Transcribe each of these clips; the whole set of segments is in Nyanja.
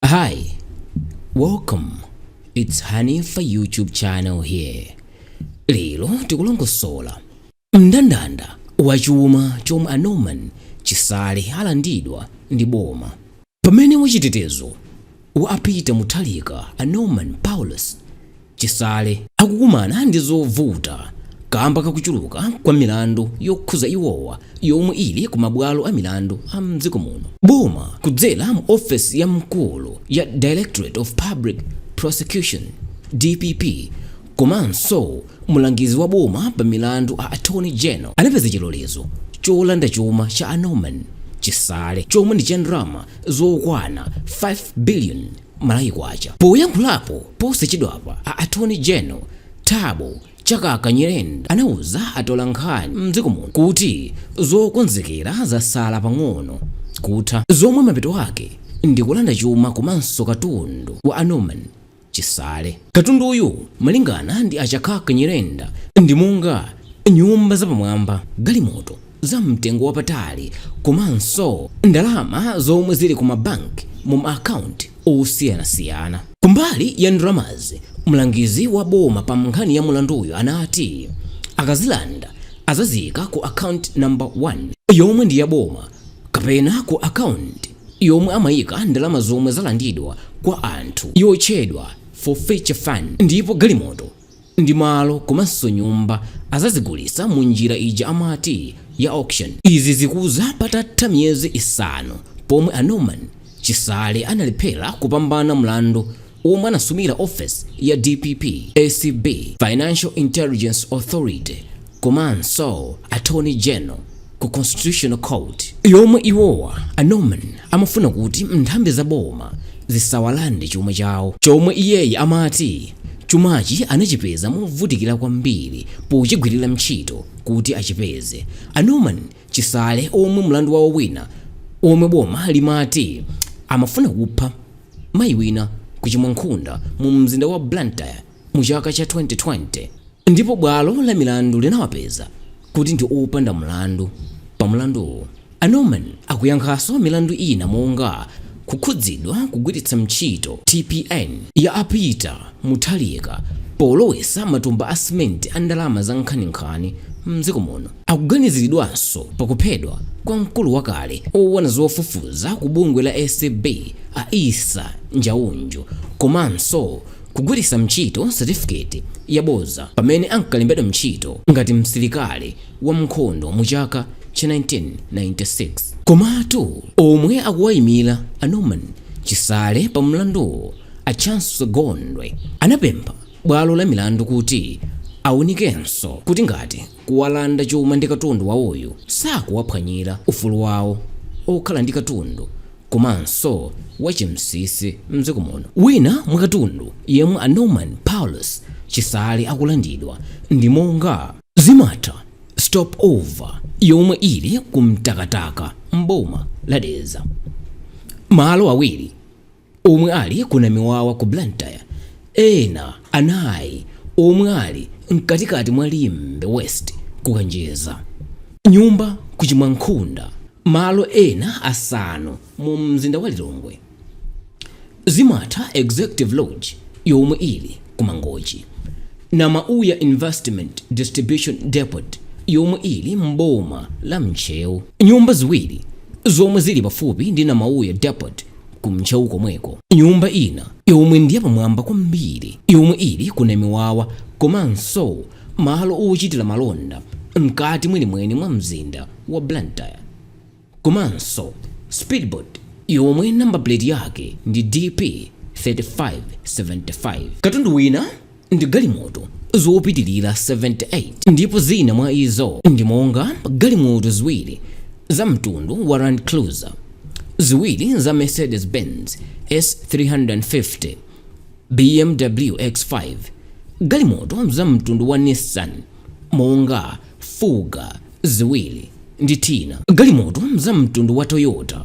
Hi, welcome. It's Hanifa YouTube channel here. Lero tikulongosola mndandanda wa chuma chomwe a Norman Chisale alandidwa ndi boma. Pamene wachitetezo wa a Peter Mutharika a Norman Paulos Chisale akukumana ndi zovuta kamba kakuchuluka kwa milandu yokhuza iwowa yomwe ili ku mabwalo a milandu a m'dziko muno. Boma kudzera mu ofesi ya mkulu ya Directorate of Public Prosecution, dpp, komanso mulangizi wa boma pa milandu a Attorney General anapeza chilolezo cholanda chuma cha a Norman Chisale chomwe ndi cha ndalama zokwana 5 billion Malawi kwacha. Poyankhulapo posachedwapa a attorney general Thabo Chakaka Nyirenda anauza atolankhani mdziko muno kuti zokonzekera zasala pang'ono kutha zomwe mapeto ake ndi kulanda chuma komanso katundu wa a Norman Chisale. Katunduyu malingana ndi a Chakaka Nyirenda ndi monga nyumba zapamwamba, galimoto, za mtengo wapatali komanso ndalama zomwe zili ku ma bank mu ma account osiyanasiyana. Kumbali ya ndalamazi, mlangizi wa boma pa nkhani ya mlanduyo anati akazilanda azaziika ku account number 1 yomwe ndi ya boma kapena ku account yomwe amaika ndalama zomwe zalandidwa kwa anthu yotchedwa forfeiture fund ndipo galimoto ndi malo komanso nyumba azazigulisa mu njira ija amati ya auction. Izi zikuza patatha miyezi isanu pomwe a Norman Chisale analephera kupambana mlandu omwe anasumira office ya dpp, acb, Financial Intelligence Authority, komanso Attorney General ku constitutional court yomwe iwowa a Norman amafuna kuti nthambi za boma zisawalande chuma chawo chomwe iyeyi amati chumachi anachipeza movutikira kwambiri pochigwirira mtchito kuti achipeze. A Norman Chisale omwe mlandu wawo wina womwe boma limati amafuna kupha mayi wina ku Chimwankhunda mu mzinda wa Blantyre, mu chaka cha 2020 ndipo bwalo la milandu linawapeza kuti ndi opanda mlandu pa mlanduwu. A Norman akuyankhaso milandu ina monga kukhudzidwa kugwiritsa ntchito TPN ya a Peter Mutharika polowesa matumba a simenti a ndalama za nkhaninkhani mdziko muno. Akuganiziridwanso pa kuphedwa kwa mkulu wakale owona zofufuza ku bungwe la acb a Issa Njauju komanso kugwiritsa ntchito certificate yaboza pamene ankalembedwa ntchito ngati msilikali wa nkhondo mu chaka cha 1996. Komatu omwe akuwaimila a Norman Chisale pa mlanduwu a Chancy Gondwe anapempha bwalo la milandu kuti aunikenso kuti ngati kuwalanda chuma ndi katundu wawoyu sakuwaphwanyira ufulu wawo okhala ndi katundu komanso wa chinsinsi mdziko muno. Wina mwa katundu yemwe a Norman Paulus Chisale akulandidwa ndi monga. Zimatha stop over yomwe ili ku Mtakataka m'boma la Dedza. Malo awiri. omwe ali ku Namiwawa ku Blantyre, ena anayi omwe ali mkatikati mwa Limbe West ku Kanjedza, nyumba ku Chimwankhunda, malo ena asanu mu mzinda wa Lilongwe, Zimatha Executive Lodge yomwe ili ku Mangochi, Namauya Investment Distribution Depot yomwe ili m'boma la Ntcheu, nyumba ziwiri zomwe zili pafupi ndi Namauya Depot ku Ntcheu komweko. Nyumba ina yomwe ndi yapamwamba kwambiri yomwe ili ku Namiwawa komanso malo ochitira malonda mkati mwenimweni mwa mzinda wa Blantyre komanso speedboat yomwe number plate yake ndi DP 3575. Katundu wina ndi galimoto zopitirira 78 ndipo zina mwa izo ndi monga galimoto ziwiri za mtundu wa Land Cruiser, ziwiri za Mercedes-Benz S350, BMW X5, galimoto za mtundu wa Nissan monga Fuga ziwiri ndi Teana, galimoto za mtundu wa Toyota,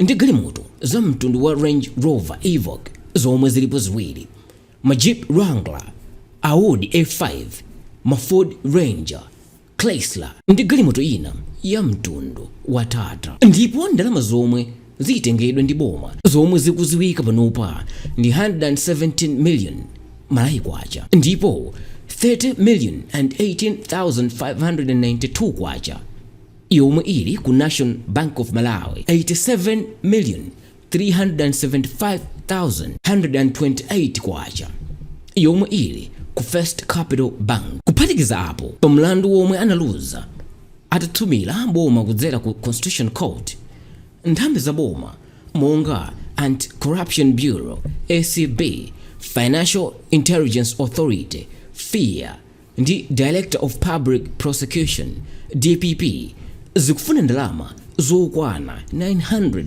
ndi galimoto za mtundu wa Range Rover Evoque zomwe zilipo ziwiri, ma Jeep Wrangler, Audi A5, ma Ford Ranger, Chrysler ndi galimoto ina ya mtundu wa Tata. Ndipo ndalama zomwe zitengedwe ndi boma zomwe zikuziwika panopa ndi 117 million Malawi Kwacha ndipo 30,018,592 Kwacha. yomwe ili ku National Bank of Malawi 87,375,128 kwacha yomwe ili ku First Capital Bank. Kuphatikiza apo, pa mlandu womwe analuza atasumira boma kudzera ku Constitution Court, nthambi za boma monga Anti-Corruption Bureau, ACB, Financial Intelligence Authority, FIA, ndi Director of Public Prosecutions, DPP, zikufuna ndalama zokwana 900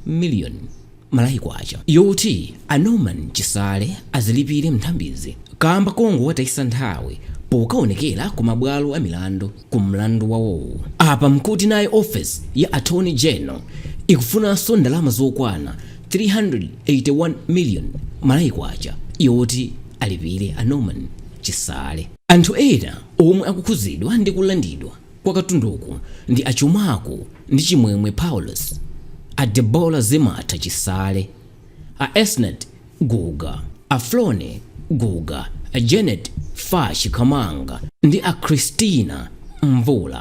million Malawi Kwacha yoti a Norman Chisale azilipire m'nthambizi kaamba kongowatayisa nthawi pokawonekera ku mabwalo a milandu ku mlandu wawowu. Apa mkuti naye ofesi ya Attorney General ikufunanso ndalama zokwana 381 million Malawi Kwacha yoti. alipire a Norman Chisale. Anthu ena omwe akukhudzidwa ndi kulandidwa kwa katunduku ndi achuma ku ndi Chimwemwe Paulosi, a Deborah Zimatha Chisale, a Esnart Guga, a Floney Guga, a Janet Fatch Kamanga ndi a Christina Mvula.